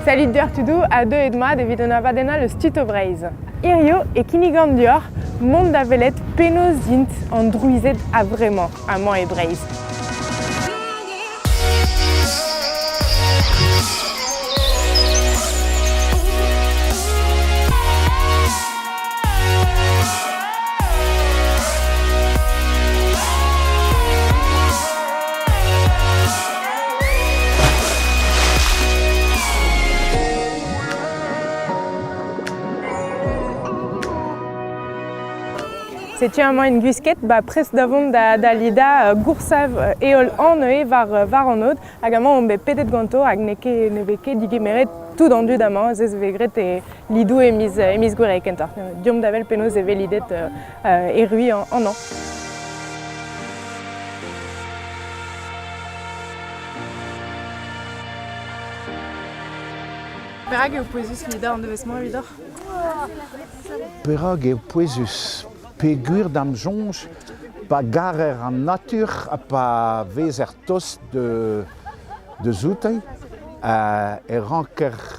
Salut deoc'h tudoù ha deuet mat evit un abadenn all eus Tito Breizh. Hirio e kinnigan deoc'h mont da welet penaos int an drouized a-vremañ amañ e Breizh. Setu amañ en gwisket, ba prest da vont da, da lidañ uh, goursav uh, heol an neuze war, uh, war an aod, hag amañ on bet pedet ganto, hag n'eo ket, ne vez ket digemeret tout an dud amañ, se vez graet e, Lidou e miz, e miz Gouere kentoc'h. Deomp da wel penaos e vez lidet uh, erru an, an Perak eo pouezus lidañ an devezh-mañ evidoc'h? Perak eo pouezus Peguer d'am soñj pa garer an natur ha pa vezer tost de, de zouteiz, e ranker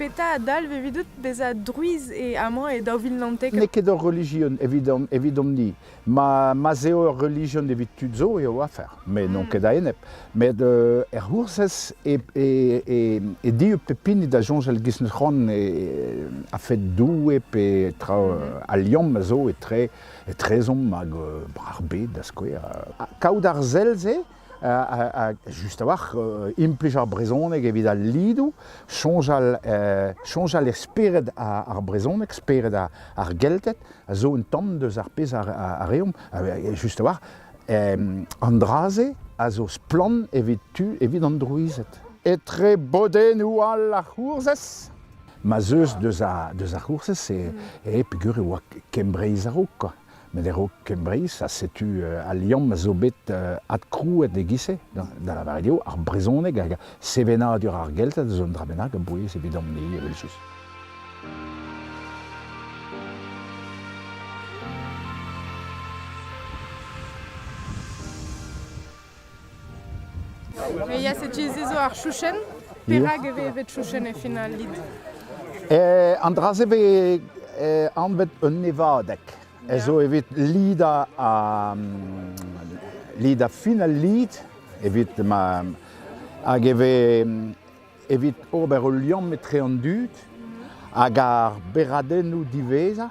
Petra a dalv evidout bezañ druiz e amañ e daou vil naontek? N'eo ket ur relijion evidomp-ni. Ma, ma'z eo ur relijion evit tud zo eo afer, met n'on ket a-enep. Met er C'hoursez e, e, e, e dieub pep hini da soñjal giz-c'hoant a-fed Doue pe tra a liamm a zo etre etrezomp hag ar bed da skouer. Kaout ar sell-se just a-walc'h implij ar brezhoneg evit al lidoù, soñjal, soñjal e spered ar brezhoneg, spered ar Gelted, a zo un tamm deus ar pezh a reomp, just a-walc'h, an dra-se a zo splann evit tu, evit an drouized. Etre bodennoù all ar C'hourzhez? Ma 'z eus deus ar C'hourzhez, e peger e oa Kembreiz a-raok, quoi. Met e-raok Kembreiz, ha setu al liamm a zo bet adkrouet e-giz-se, da lavaret eo, ar brezhoneg hag sevenadur ar Gelted zo un dra bennak a-bouez evidon-ni, evel-just. Mais il y a cette zo ar chouchenn. Perak e vez evet chouchenn e final lid eh, An dra-se vez eh, anvet un nevadeg. Ez zo evit lid a, lid a fin al lid, evit ma, hag e vez evit ober ul liamm etre an dud hag ar beradennoù diwezhañ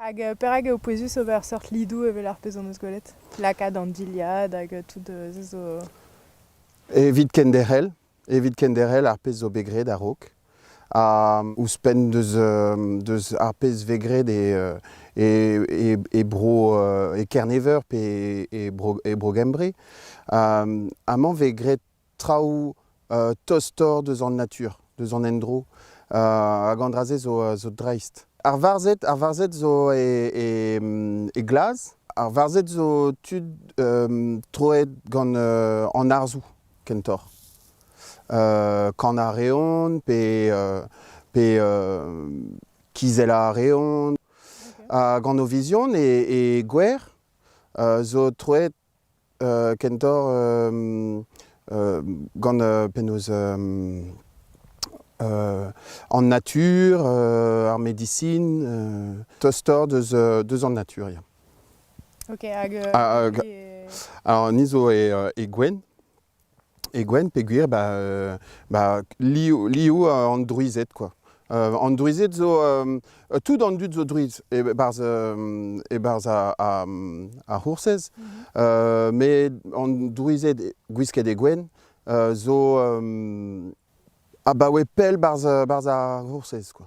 Hag euh, perak eo pouezus ober seurt lidoù evel ar pezh hon eus gwelet? Lakaat an dilhad hag euh, tout euh, se zo... Evit kenderc'hel, evit kenderc'hel ar pezh zo bet graet a-raok. Ha ouzhpenn deus, deus ar pezh vez graet e, e, e, bro e Kerneveur pe e, bro, e Bro-Gembre, amañ vez graet traoù tostoc'h deus an natur, deus an endro, hag an dra-se zo dreist. Ar varzhed, ar varzhed zo e glaz, ar varzhed zo tud troet gant an arzoù kentoc'h. Kanañ a reont pe kizellañ a reont. Hag an Ovizion e gwer zo troet Kentoc'h gant penaos an natur, ar medisin, tostoc'h deus an natur ya. Ok hag... Ni zo e Gwenn. E gwenn peogwir ba ba liv liv an drouized quoi. An drouized zo tout an dud zo drouiz e-barzh e-barzh ar C'hoursez. Met an drouized gwisket e gwenn zo abaoe pell barzh ar C'hoursez quoi.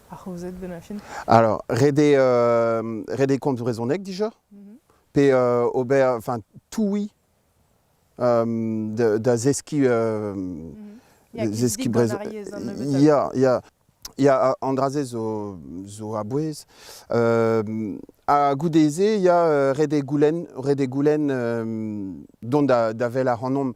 Alors, redet euh, compte brezhoneg déjà mhm. Pe euh, ober, enfin, toui euh, da zeski mhm. zeski brezhoneg. Ya, ya. Ya, an dra-se zo, zo a bouez. a goude-se, ya, rede goulen, rede goulen dont da, da vel a hanomp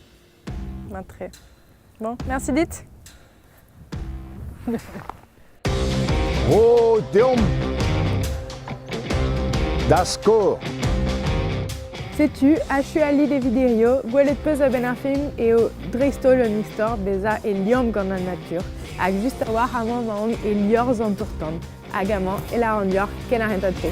Matre. Bon, merci dit. oh, deomp Dasko Setu achu ali de vidirio gwelet peus a-benn ar film eo dreist-holl un istor bezañ e liamm gant an natur hag just a-walc'h amañ maon e liorzh an tour-tan. Hag amañ e lâran deoc'h ken ar hentad-se.